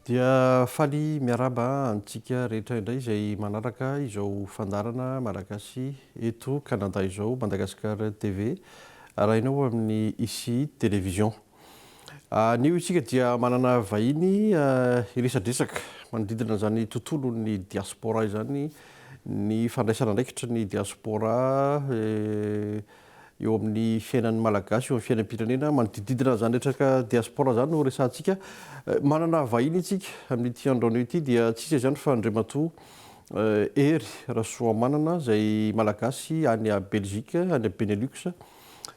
Dia faly miarahaba antsika rehetra indray izay manaraka izao fandaharana Malagasy eto Canada izao, Madagascar TV, arahina ao amin'ny ICI Television. Anio isika dia manana vahiny hiresadresaka manodidina izany tontolon'ny diaspora izany, ny fandraisana andraikitry ny diaspora eh, eo amin'ny fiainan'ny Malagasy, eo amin'ny fiainam-pirenena, manodidididina an'izany retraka diaspora izany no resahantsika. Manana vahiny isika amin'ity andro anio ity dia tsy iza izany fa Andriamatoa Hery Rasoamanana izay Malagasy any Belgique, any Benelux.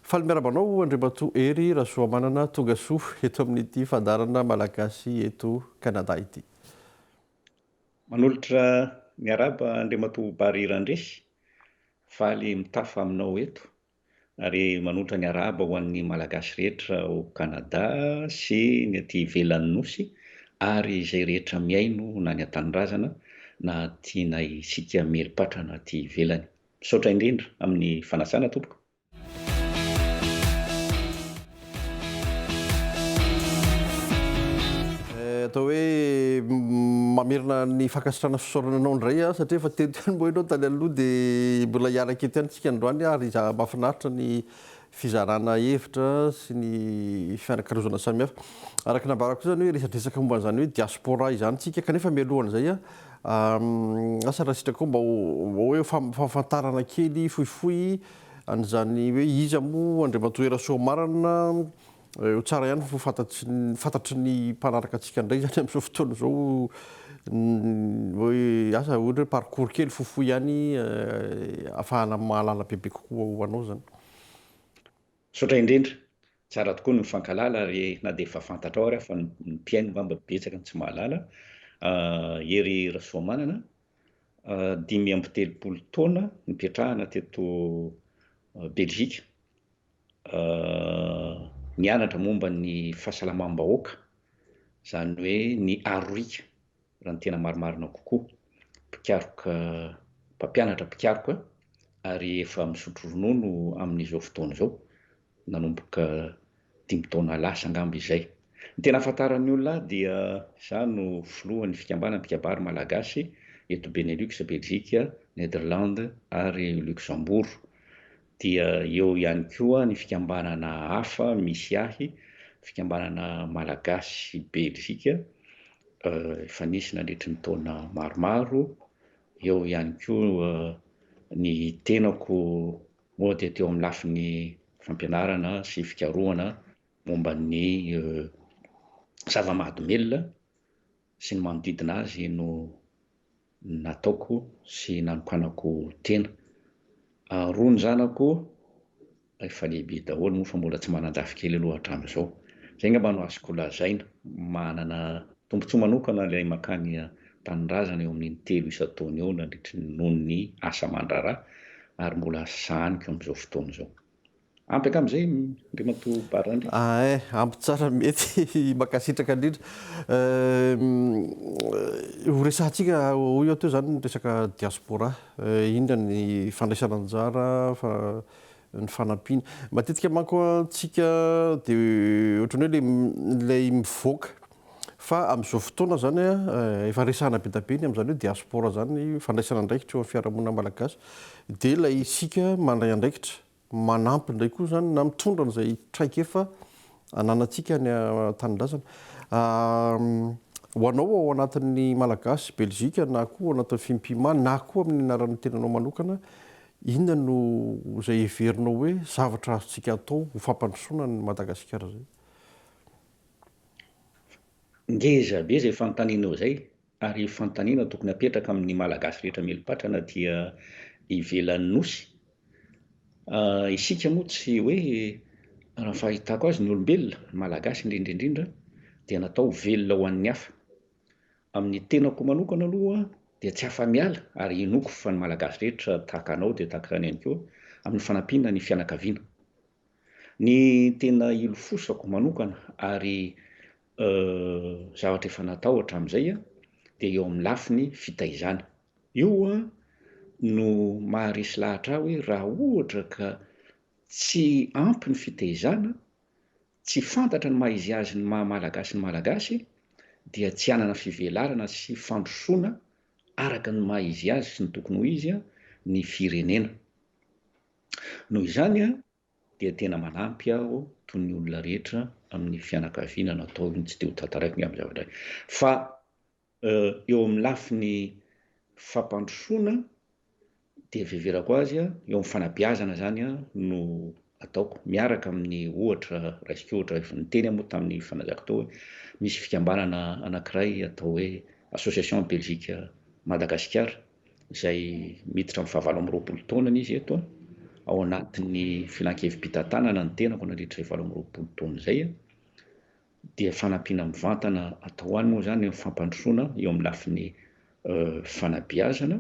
Faly miarahaba anao Andriamatoa Hery Rasoamanana, tonga soa eto amin'ity fandaharana Malagasy eto Canada ity. Manolotra miarahaba Andriamatoa Barry Randresy, Faly mitafa aminao eto ary manotra ny arahaba ho an'ny Malagasy rehetra ao Canada sy ny aty ivelan'ny Nosy ary izay rehetra mihaino na ny an-tanindrazana na aty na isika mieripatrana aty ivelany. Misaotra indrindra amin'ny fanasana tompoko. atao hoe mamerina ny fankasitrana fisaorana anao indray a satria efa teto ihany moa ianao tany aloha dia mbola hiaraka eto ihany tsika androany ary za mahafinaritra ny fizarana hevitra sy ny fianakarozana samihafa araka nambarako izany hoe resadresaka momba an'izany hoe diaspora izany tsika kanefa mialohan'izay a asa raha sitraka mba hoe fahafantarana kely fohifohy An'izany hoe iza moa Andriamatoa Herasoa marina eo tsara ihany fa fantatry fantatry ny mpanaraka antsika indray izany amin'izao fotoana izao hoe asa ohatra hoe parcours kely fohifohy ihany ahafahana mahalala bebe kokoa ho anao izany. Misaotra indrindra. Tsara tokoa ny mifankahalala ary na dia efa fantatrao ary aho fa ny mpihaino angamba betsaka no tsy mahalala. Hery Rasoamanana, dimy amby telopolo taona nipetrahana teto Belgique, nianatra momba ny fahasalamam-bahoaka, izany hoe ny aroriaka raha ny tena marimarina kokoa, mpikaroka mpampianatra mpikaroka ary efa misotro ronono amin'izao fotoana izao nanomboka dimy taona lasa angamba izay. Ny tena ahafantaran'ny olona ahy dia izaho no filohan'ny fikambanan'ny mpikabary malagasy eto Benelux, Belgique, Nederlande ary Luxembourg. Dia eo ihany koa ny fikambanana hafa misy ahy, fikambanana malagasy belzika efa nisy nandritry ny taona maromaro, eo ihany koa ny tenako moa dia teo amin'ny lafiny fampianarana sy fikarohana momba ny zava-mahadomelina sy ny manodidina azy no nataoko sy nanokanako tena. Roa ny zanako efa lehibe daholo moa fa mbola tsy manan-jafikely aloha hatramin'izao. Izay angamba no azoko lazaina. Manana tombontsoa manokana ilay mankany tanindrazana eo amin'ny in-telo isan-taona eo nandritry ny noho ny asa aman-draharaha ary mbola sahaniko amin'izao fotoana izao. Ampy hatramin'izay Andriamatoa Barrandria. Ae, ampy tsara mety. Mankasitraka indrindra. Ho resahantsika ho eo teo izany ny resaka diaspora. Inona ny fandraisana anjara, ny fanampiana. Matetika manko an, tsika dia ohatran'ny hoe ilay mivoaka Fa amin'izao fotoana izany efa resahana be dia be ny amin'izany hoe diaspora izany, fandraisana andraikitra eo amin'ny fiarahamonina malagasy. Dia ilay isika mandray andraikitra, manampy indray koa izany na mitondra an'izay traikefa ananantsika any an-tanindrazana. Ho anao ao anatin'ny Malagasy Belzika na koa ao anatin'ny Fimpima na koa amin'ny anaran'ny tenanao manokana, inona no izay heverinao hoe zavatra azontsika atao ho fampandrosoana an'i Madagasikara izay? Ngeza be izay fanontanianao izay ary fanontaniana tokony hapetraka amin'ny Malagasy rehetra mieli-patra na dia ivelan'ny Nosy. Isika moa tsy hoe, raha ny fahitako azy, ny olombelona, ny Malagasy indrindra indrindra, dia natao ho velona ho an'ny hafa. Amin'ny tenako manokana aloha dia tsy afa-miala ary inoako fa ny Malagasy rehetra tahaka anao dia tahaka izany ihany koa, amin'ny fanampiana ny fianakaviana. Ny tena ilofosako manokana ary zavatra efa natao hatramin'izay dia eo amin'ny lafiny fitaizana. Io no maharesy lahatra ahy hoe raha ohatra ka tsy ampy ny fitaizana, tsy fantatra ny maha izy azy ny maha Malagasy ny Malagasy dia tsy hanana fivelarana sy fandrosoana araka ny maha izy azy sy ny tokony ho izy ny firenena. Noho izany dia tena manampy aho toy ny olona rehetra amin'ny fianakaviana no atao io ny tsy te ho tantaraiko ny amin'ny zavatra fa eo amin'ny lafiny fampandrosoana dia fiheverako azy eo amin'ny fanabeazana izany no ataoko miaraka amin'ny ohatra raisiko ohatra efa niteny moa tamin'ny fanazako tao hoe misy fikambanana anankiray atao hoe association Belgique Madagasikara izay miditra amin'ny fahavalo amby roapolo taonany izy eto, ao anatin'ny filankevi-pitantanana ny tenako nandritra izay valo amby roapolo taona izay, dia fanampiana mivantana atao any moa izany ny fampandrosoana eo amin'ny lafiny fanabeazana,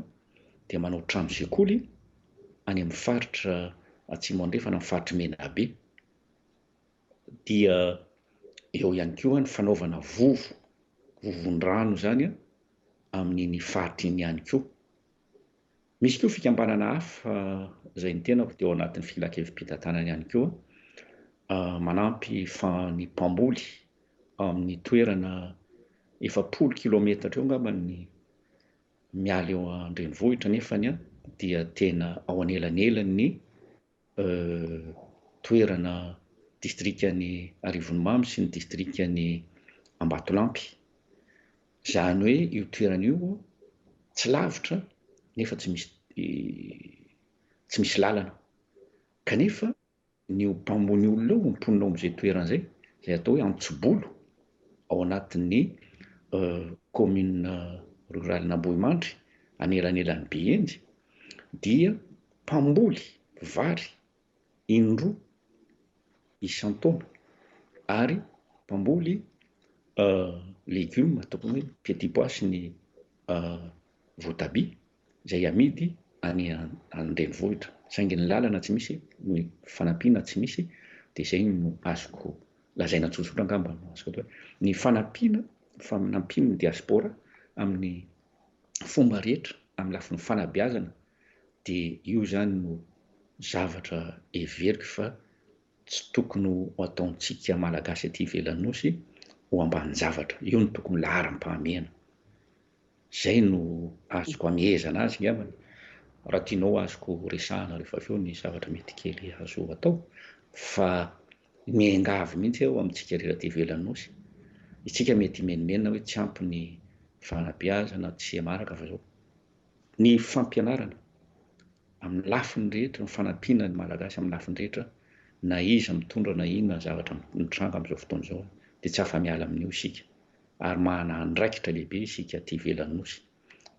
dia manao trano sekoly any amin'ny faritra Atsimo Andrefana, amin'ny faritr'i Menabe. dia eo ihany koa ny fanaovana vovo, vovon-drano izany an, amin'iny faritra iny ihany koa. Misy koa fikambanana hafa izay ny tenako dia ao anatin'ny filankevi-pitantanana ihany koa, manampy ny mpamboly amin'ny toerana efapolo kilaometatra eo angamba ny miala eo an-drenivohitra nefany dia tena ao anelanelan'ny toerana distrikan'i Arivonimamo sy ny distrikan'i Ambatolampy. Izany hoe io toerana io tsy lavitra nefa tsy misy tsy misy lalana. Kanefa ny mpamony olona ao, ny mponina ao amin'izay toerana izay, izay atao hoe Antsibolo ao anatin'ny kaominina ruralin'Ambohimandry anelanelan'i Behenjy dia Mpamboly vary indroa isan-taona ary mpamboly legioma tokony hoe petit pois sy ny voatabia izay amidy any an-drenivohitra saingy ny lalana tsy misy, ny fanampiana tsy misy dia izay no azoko lazaina tsotsotra angamba no azoko atao hoe ny fanampiana, ny fanampian'ny diaspora amin'ny fomba rehetra amin'ny lafiny fanabeazana dia io izany no zavatra heveriko fa tsy tokony ho ataontsika Malagasy aty ivelan'ny Nosy ho ambanin-javatra. Io no tokony laharam-pahamehana. Izay no azoko amehezana azy ngambany. Raha tianao azoko resahana rehefa avy eo ny zavatra mety kely azo atao fa Miangavy mihitsy aho amintsika rehetra aty ivelan'ny Nosy, isika mety himenomenona hoe tsy ampy ny fanabeazana, tsy maraka fa izao. Ny fampianarana amin'ny lafiny rehetra, ny fanampiana ny Malagasy amin'ny lafiny rehetra, na iza mitondra na inona zavatra mitranga amin'izao fotoana izao dia tsy afa-miala amin'io isika ary manana andraikitra lehibe isika aty ivelan'ny Nosy.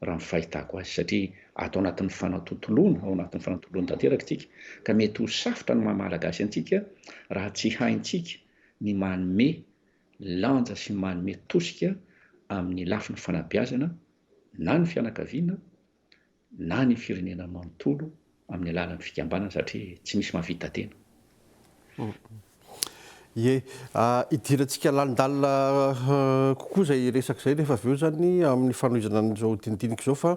raha ny fahitako azy, satria ato anatin'ny fanatontoloana, ao anatin'ny fanatontoloana tanteraka isika, ka mety ho safotra ny maha Malagasy antsika raha tsy haintsika ny manome lanja sy manome tosika amin'ny lafiny fanabeazana na ny fianakaviana na ny firenena manontolo amin'ny alalan'ny fikambanana satria tsy misy mahavita tena. Ie, hidirantsika lalindalina kokoa izay resaka izay rehefa avy eo izany amin'ny fanohizana an'izao dinidinika izao fa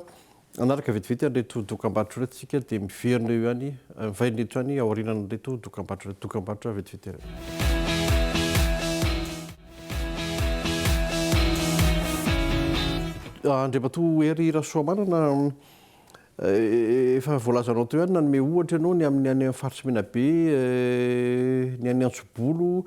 hanaraka vetivety an'ireto dokambarotra ireto isika dia miverina eo ihany, mivaina eto ihany aorianan'ireto dokambarotra ireto. Dokambarotra vetivety ireto. Andriamatoa Hery Rasoamanana, Efa voalazanao teo ihany nanome ohatra ianao ny amin'ny any faritry Menabe, ny any Antsobolo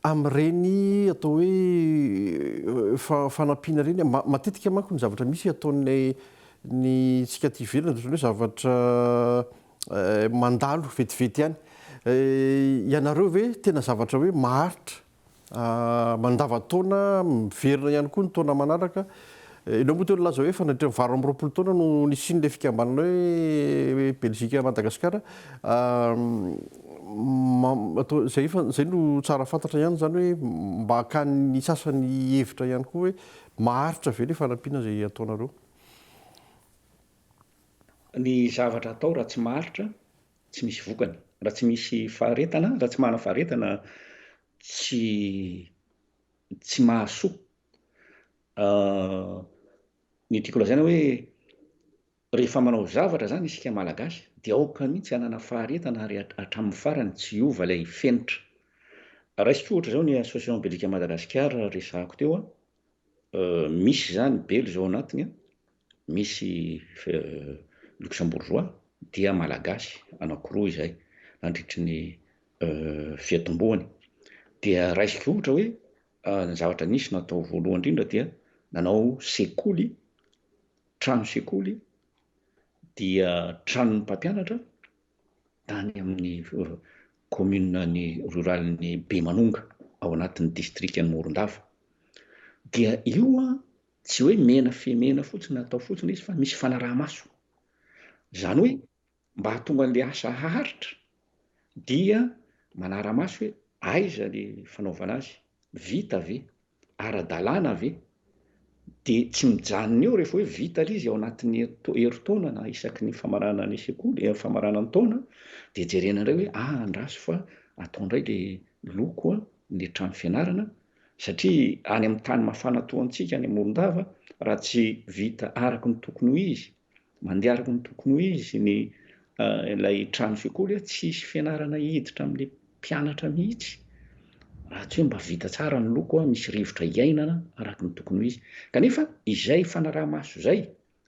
amin'ireny atao hoe fanampiana ireny. Matetika manko ny zavatra misy ataon'ny ny tsika aty ivelany dia ohatran'ny hoe zavatra mandalo vetivety ihany. Ianareo ve tena zavatra hoe maharitra Mandavan-taona, miverina ihany koa ny taona manaraka. Enao moa teo nilaza hoe efa nandritra ny valo amby roapolo taona no nisian'ilay fikambanana hoe Belgique Madagascar. Izay efa, izay no tsara fantatra ihany izany hoe mba hakan'ny sasany hihevitra ihany koa hoe maharitra ve ilay fanampiana izay ataonareo. Ny zavatra atao raha tsy maharitra tsy misy vokany, raha tsy misy faharetana, raha tsy manana faharetana tsy tsy mahasoa. Ah, ny tiako lazaina hoe rehefa manao zavatra zany isika malagasy dia aoka mihitsy hanana faharetana ary hatramin'ny farany tsy hiova ilay fenitra. Raisiko ohatra izao ny association belika Madagasikara resahako teo a, euh, misy zany belo izao anatiny a, Misy Luxembourgeois dia Malagasy anankiroa izay nandritry ny fiatombohany dia raisiko ohatra hoe ny zavatra nisy natao voalohany indrindra dia nanao sekoly, trano sekoly dia tranon'ny mpampianatra tany amin'ny commune ny rurale ny Bemanonga ao anatin'ny district ny Morondava dia io Tsy hoe mena fy mena fotsiny atao fotsiny izy fa misy fanaraha-maso. Izany hoe mba hahatonga an'ilay asa haharitra dia manara-maso hoe aiza le fanaovana azy, vita ve, ara-dalàna ve? Dia tsy mijanona eo rehefa hoe vita le izy ao anatin'ny herintaona na isaky ny famarana ny sekoly, eh, famarana ny taona dia jerena indray hoe ah andraso fa atao indray le loko ny trano fianarana satria any amin'ny tany mafana toa antsika any Amoron-dava raha tsy vita araka ny tokony ho izy, mandeha araka ny tokony ho izy ny ilay trano sekoly, tsy hisy fianarana hiditra amin'ny mpianatra mihitsy raha tsy hoe mba vita tsara ny loko, misy rivotra hiainana araka ny tokony ho izy. Kanefa izay fanaraha-maso izay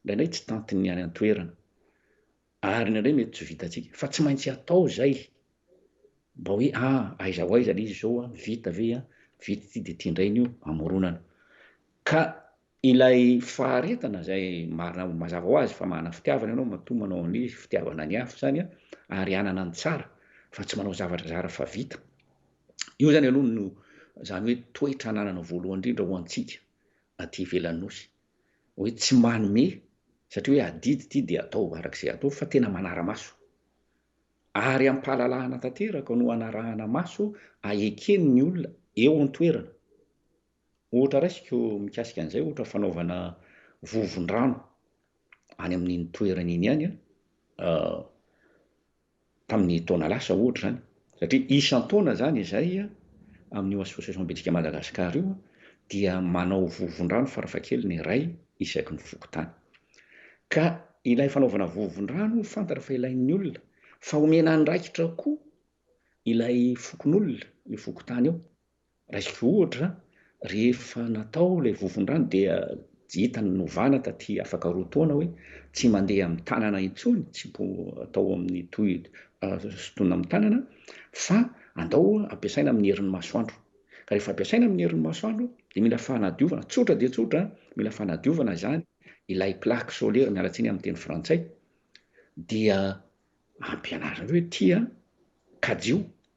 indraindray tsy tantin'ny any an-toerana. Ary indraindray mety tsy vitantsika, fa tsy maintsy atao izay, mba hoe a, aiza ho aiza ilay izy izao a, vita ve a, vita ity dia ity indray ny io, amoronana. Ka ilay faharetana izay marina mazava ho azy fa manana fitiavana ianao matoa manao ny fitiavana ny hafa izany a, ary hanana ny tsara fa tsy manao zavatra zara fa vita. Io izany aloha no izany hoe toetra ananana voalohany indrindra ho antsika aty ivelan'ny Nosy. hoe tsy manome satria hoe adidy ity dia atao araka izay atao fa tena manara-maso. Ary am-pahalalahana tanteraka no anarahana maso ahekeny ny olona eo an-toerana. Ohatra raisiko mikasika an'izay ohatra fanaovana vovon-drano any amin'iny toerana iny ihany an, tamin'ny taona lasa ohatra izany, satria isan-taona izany izay amin'io Association Bitika Madagascar io dia manao vovon-drano farafahakeliny iray isaky ny fokontany. Ka ilay fanaovana vovon-drano fantatra fa ilain'ny olona, fa omena andraikitra koa ilay fokonolona io fokontany io. Raisiko ohatra, rehefa natao ilay vovon-drano dia hita novana taty afaka roa taona hoe tsy mandeha amin'ny tanana intsony, tsy mpo atao amin'ny toy sotoina amin'ny tanana fa andao ampiasaina amin'ny herin'ny masoandro. Ka rehefa ampiasaina amin'ny herin'ny masoandro dia mila fanadiovana, tsotra dia tsotra, mila fanadiovana izany ilay plaque solaire, miala tsiny amin'ny teny frantsay, dia ampianarina hoe tia kajio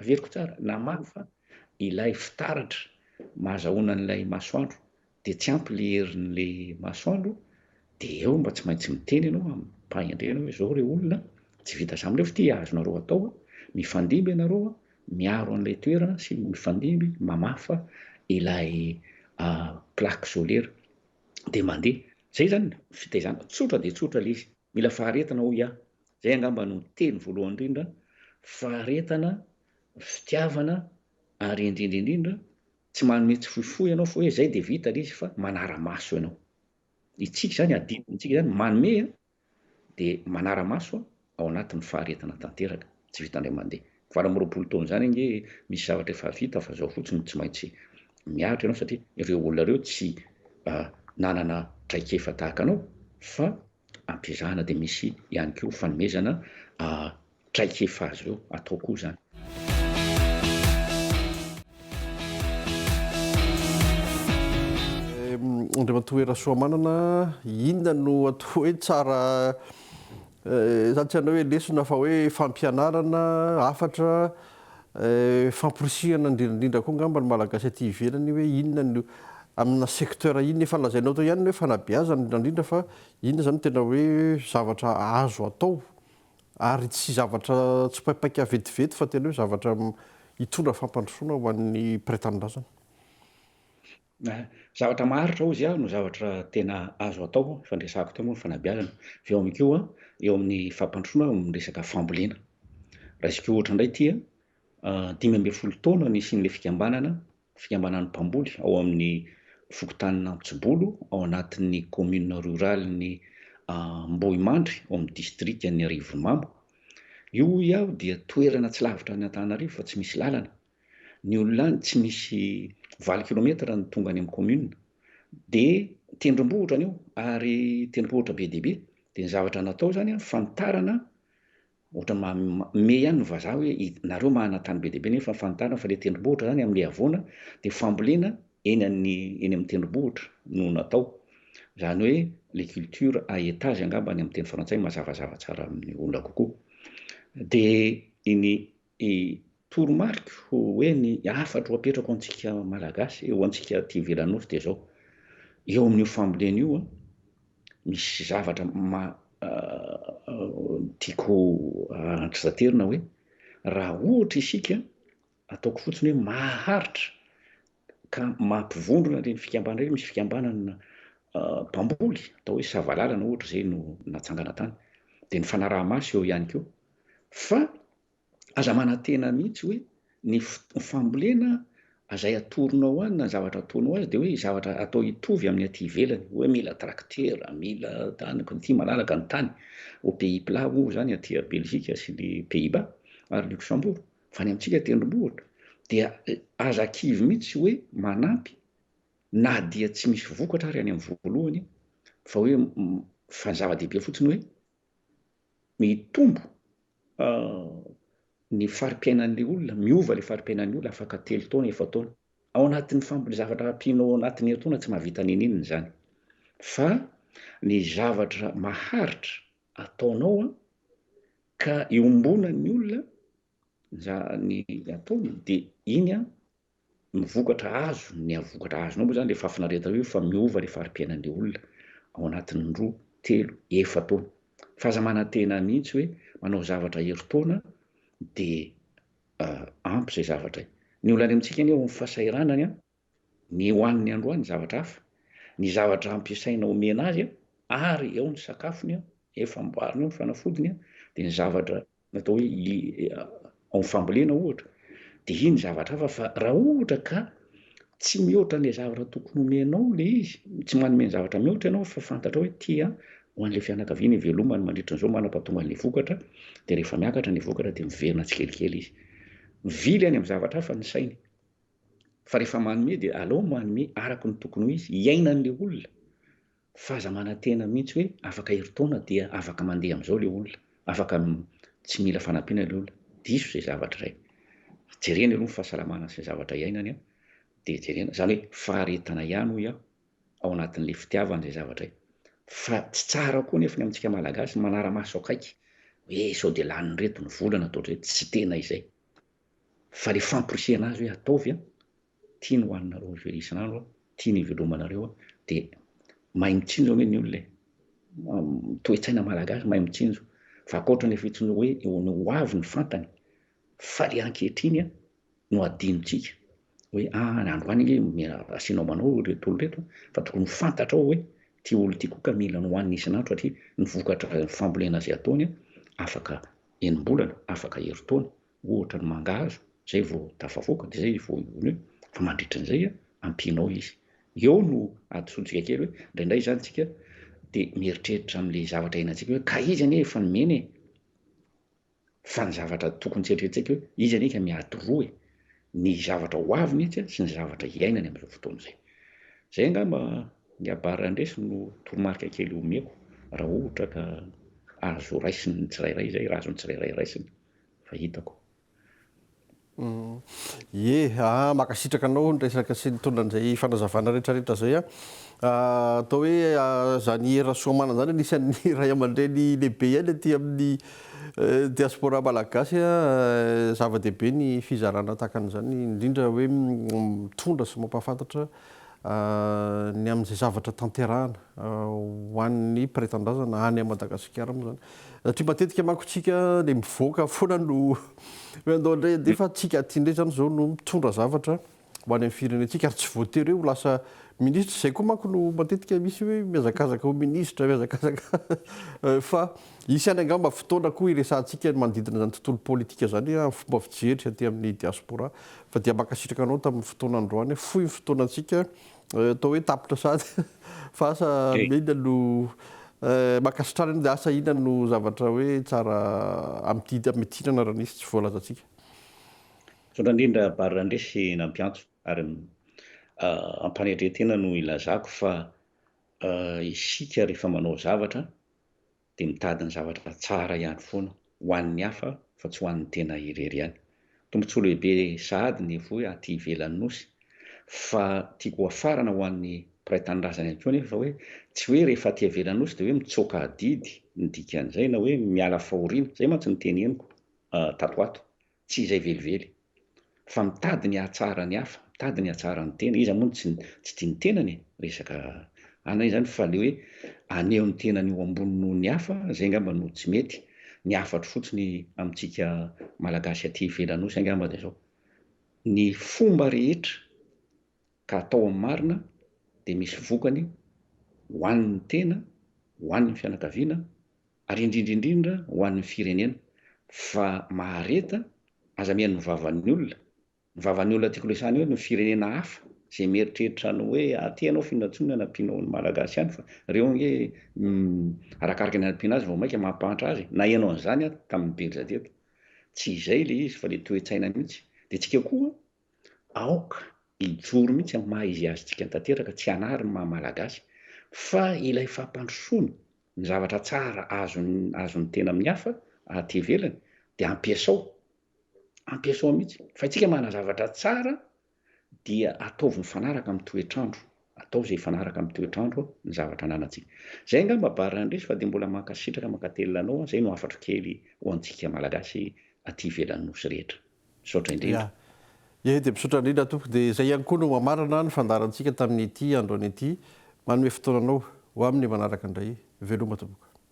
Averiko tsara, namaly fa ilay fitaratra mahazahoana an'ilay masoandro dia tsy ampy ilay herin'ilay masoandro dia eo mba tsy maintsy miteny ianao amim-pahendrena hoe izao re olona, tsy vita izany nefa ity azonareo atao, mifandimby ianareo miaro an'ilay toerana sy mifandimby mamafa ilay plaque solaire dia mandeha. Izay izany fitaizana, tsotra dia tsotra ilay izy, mila faharetana hoy aho. Izay angamba no teny voalohany indrindra, faharetana, fitiavana ary indrindra indrindra tsy manome tsy fohifohy ianao fa hoe izay dia vita ilay izy fa manara-maso ianao. Isika izany, adidintsika izany, manome an, dia manara-maso ao anatin'ny faharetana tanteraka, tsy vita indray mandeha. Valo amby roapolo taona izany ange misy zavatra efa vita fa izao fotsiny tsy maintsy mihatra ianao satria ireo olona ireo tsy nanana traikefa tahaka anao fa ampiezahana dia misy ihany koa fanomezana traikefa azy ireo atao koa izany. Andriamatoa Hera Soamanana, inona no atao hoe tsara eh, zany tsy anao hoe lesona fa hoe fampianarana, hafatra, Famporisihana indrindra indrindra koa angamba ny Malagasy aty ivelany hoe inona no amina secteur inona. Efa lazainao tao ihany ny hoe fanabeazana indrindra indrindra fa inona izany no tena hoe zavatra azo atao ary tsy zavatra tsipaipaika vetivety fa tena hoe zavatra hitondra fampandrosoana ho an'ny mpiray tanindrazana. Zavatra maharitra hozy aho no zavatra tena azo atao, efa niresahako teo moa ny fanabeazana. Avy eo koa eo amin'ny fampandrosoana amin'ny resaka fambolena. Raisiko ohatra indray ity dimy ambin'ny folo taona nisian'ilay fikambanana, fikambanan'ny mpamboly ao amin'ny fokontanina Antsibolo ao anatin'ny commune rurale ny Ambohimandry ao amin'ny distrikan'ny Arivonimamo. Io hoy aho dia toerana tsy lavitra an'Antananarivo fa tsy misy lalana. Ny olona any tsy misy valo kilometatra no tonga any amin'ny commune dia tendrombohitra anio ary tendrompohitra be dia be dia ny zavatra natao zany an fanitarana ohatra manome ihany ny vazaha hoe nareo mahana tany be dia be nefa fanitarana fa le tendrombohitra zany amin'ny havoana dia fambolena eny an'ny eny amin'ny tendrombohitra no natao zany hoe le culture à étage angamba any amin'ny teny frantsay mazavazava tsara amin'ny olona kokoa dia iny Dia toromariko hoe ny hafatro apetrako ho antsika Malagasy, ho antsika aty ivelan'ny Nosy dia izao, eo amin'io fambolena io misy zavatra tiako andrasaterina hoe raha ohatra isika, ataoko fotsiny hoe maharitra ka mampivondrona ireny fikambana ireny, misy fikambanana mpamboly atao hoe Savalalana ohatra izay no natsangana tany, dia ny fanaraha-maso eo ihany koa fa aza manantena mihitsy hoe ny fambolena azay atoronao any na zavatra ataonao azy dia hoe zavatra atao hitovy amin'ny aty ivelany hoe mila traktera mila tany ity malalaka ny tany au pays plat moa izany aty à Belgique sy ny pays bas ary Luxembourg Fa ny amintsika tendrombohitra dia aza kivy mihitsy hoe manampy na dia tsy misy vokatra ary any amin'ny voalohany fa hoe fa ny zava-dehibe fotsiny hoe mitombo ny fari-piainan'ny olona, miova ilay fari-piainan'ny olona afaka telo taona, efa taona. Ao anatin'ny famboly zavatra ampianao ao anatin'ny herintaona tsy mahavita n'inon'inona izany. Fa ny zavatra maharitra ataonao an, ka iombona ny olona zany ataony de iny an no vokatra azo ny vokatra azonao moa zany le fahafinaretana io fa miova le fari-piainan'le olona ao anatin'ny roa, telo, efa taona. Fa aza manantena mihitsy hoe manao zavatra herintaona de ampy zay zavatra. Ny olana amintsika anie ao amin'ny fasahiranany an, Ny hohaniny androany zavatra hafa, ny zavatra ampiasaina omena azy ary eo ny sakafony eo, eo famboariny eo ny fanafodiny dia ny zavatra atao hoe ao amin'ny fambolena ohatra dia iny zavatra hafa fa raha ohatra ka tsy mihoatra an'ilay zavatra tokony omenao ilay izy, tsy manome ny zavatra mihoatra ianao fa fantatrao hoe ity an, ho an'ilay fianakaviana ivelomany mandritra an'izao manapahatonga an'ilay vokatra dia rehefa miakatra ny vokatra dia miverina tsikelikely izy. Mivily any amin'ny zavatra hafa ny sainy. fa rehefa manome dia aleo manome araka ny tokony ho izy hiainan'le olona fa aza manantena mihitsy hoe afaka herintaona dia afaka mandeha amin'izao le olona afaka tsy mila fanampiana le olona diso izay zavatra izay jerena aloha ny fahasalamana sy ny zavatra hiainany an dia jerena izany hoe faharetana ihany hoy aho ao anatin'le fitiavana izay zavatra izay fa tsy tsara koa nefa ny amintsika malagasy manara-maso akaiky hoe sao dia lanin'ireto ny vola na ataotr'ireto tsy tena izay Fa le famporisihana azy hoe ataovy an, ty ny ho anareo miverina isan'andro an, ty ny hivelomanareo an, de mahay mitsinjo anie ny olona e, toe-tsaina malagasy mahay mitsinjo, fa ankoatra ny fitsinjo hoe ny ho avy no fantany, fa le ankehitriny an no adinontsika hoe ah ny androany ange mila asianao manao ireto olona ireto an, fa tokony ho fantatrao hoe ty olona ty koa ka mila nohanina isan'andro satria ny vokatra fambolena izay ataony an afaka enim-bolana, afaka herintaona, ohatra ny mangahazo, zay vao tafavoaka de zay vao io io, fa mandritra an'izay a, ampianao izy. Eo no hadisoantsika kely hoe indraindray zany tsika de mieritreritra am'le zavatra iainantsika hoe ka izy anie efa nomena e! fa ny zavatra tokony tsy eritreretitsika hoe izy anie ka miady roa e! ny zavatra ho avy mihitsy a, sy ny zavatra iainany am'zao fotoana zay. Zay angamba ny abara handresy no toromarika kely omeko raha ohatra ka azo raisiny ny tsirairay zay, raha azon'ny tsirairay raisina. fa hitako. Ye aa makasitraka anao ny resaka sy nitondra an'izay fanazavana rehetra rehetra zay an! atao hoe zany Hery Rasoamanana zany anisan'ny ray aman-dreny lehibe ihany aty amin'ny diaspora malagasy an! zava-dehibe ny fizarana tahaka an'izany indrindra hoe mitondra sy mampahafantatra ny amin'izay zavatra tanterahana ho an'ny mpiray tanindrazana any Madagasikara moa izany satria matetika manko isika dia mivoaka foana no hoe andao indray andeha fa antsika aty indray izany izao no mitondra zavatra ho any amin'ny firenentsika ary tsy voatery hoe ho lasa minisitra izay koa manko no matetika misy hoe mihazakazaka ho minisitra mihazakazaka fa Hisy ihany angamba fotoana koa hiresahantsika ny manodidina izany tontolo politika izany amin'ny fomba fijery aty amin'ny Diaspora. Fa dia mankasitraka anao tamin'ny fotoana androany. Fohy ny fotoanantsika. Atao hoe tapitra sady fa asa inona no mankasitrana anao dia asa inona no zavatra hoe tsara amidinana raha nisy tsy voalazantsika. Misaotra indrindra Bary Randresy nampiantso ary am-panetren-tena no ilazako fa isika rehefa manao zavatra dia mitady ny zavatra tsara ihany foana ho an'ny hafa fa tsy ho an'ny tena irery ihany. Tombontsoa lehibe sahady ny hivoy aty ivelan'ny Nosy fa tiako ho hafarana ho an'ny mpiray tanindrazana ihany koa anefa hoe tsy hoe rehefa aty ivelan'ny Nosy dia hoe mitsoaka adidy ny dikan'izay na hoe miala fahoriana, izay mantsy no teneniko tato ho ato. Tsy izay velively. Fa mitady ny hahatsara ny hafa, mitady ny hahatsara ny tena. Iza moa no tsy tsy tia ny tenany e? Resaka ana izany fa le hoe aneho ny tenany ho ambony noho ny hafa zay ngamba no tsy mety. Ny hafatro fotsiny amintsika Malagasy aty ivelany osa ngamba de zao, ny fomba rehetra ka atao amin'ny marina de misy vokany ho an'ny tena, ho an'ny fianakaviana, ary indrindra indrindra ho an'ny firenena fa mahareta aza mihaino ny vavan'ny olona, ny vavan'ny olona tiako resahina eo ny firenena hafa izay mieritreritra ny hoe aty ianao findatsonina ny ampianao ny malagasy ihany fa ireo ange arakaraka ny anampiana azy vao maika mampahantra azy e! naheno an'izany aho tamin'ny belza teto, tsy izay ilay izy fa ilay toe-tsaina mihitsy, dia tsika koa Aoka hijoro mihitsy amin'ny maha izy azy tsika tanteraka, tsy hanary ny maha Malagasy, fa ilay fampandrosoana, ny zavatra tsara azon'ny azon'ny tena amin'ny hafa aty ivelany dia ampiasao, ampiasao mihitsy, fa isika manana zavatra tsara dia ataovy mifanaraka amin'ny toetr'andro. atao izay hifanaraka amin'ny toetr'andro ny zavatra ananantsika. Izay angamba barre indrisy fa dia mbola mankasitraka mankatelina anao aho, izay no hafatro kely ho antsika malagasy aty ivelan'ny nosy rehetra. Misaotra indrindra. Ye dia misaotra indrindra tompoko dia izay ihany koa no mamarana ny fandaharantsika tamin'ity andro an'ity manome fotoana anao ho amin'ny manaraka indray veloma tompoko.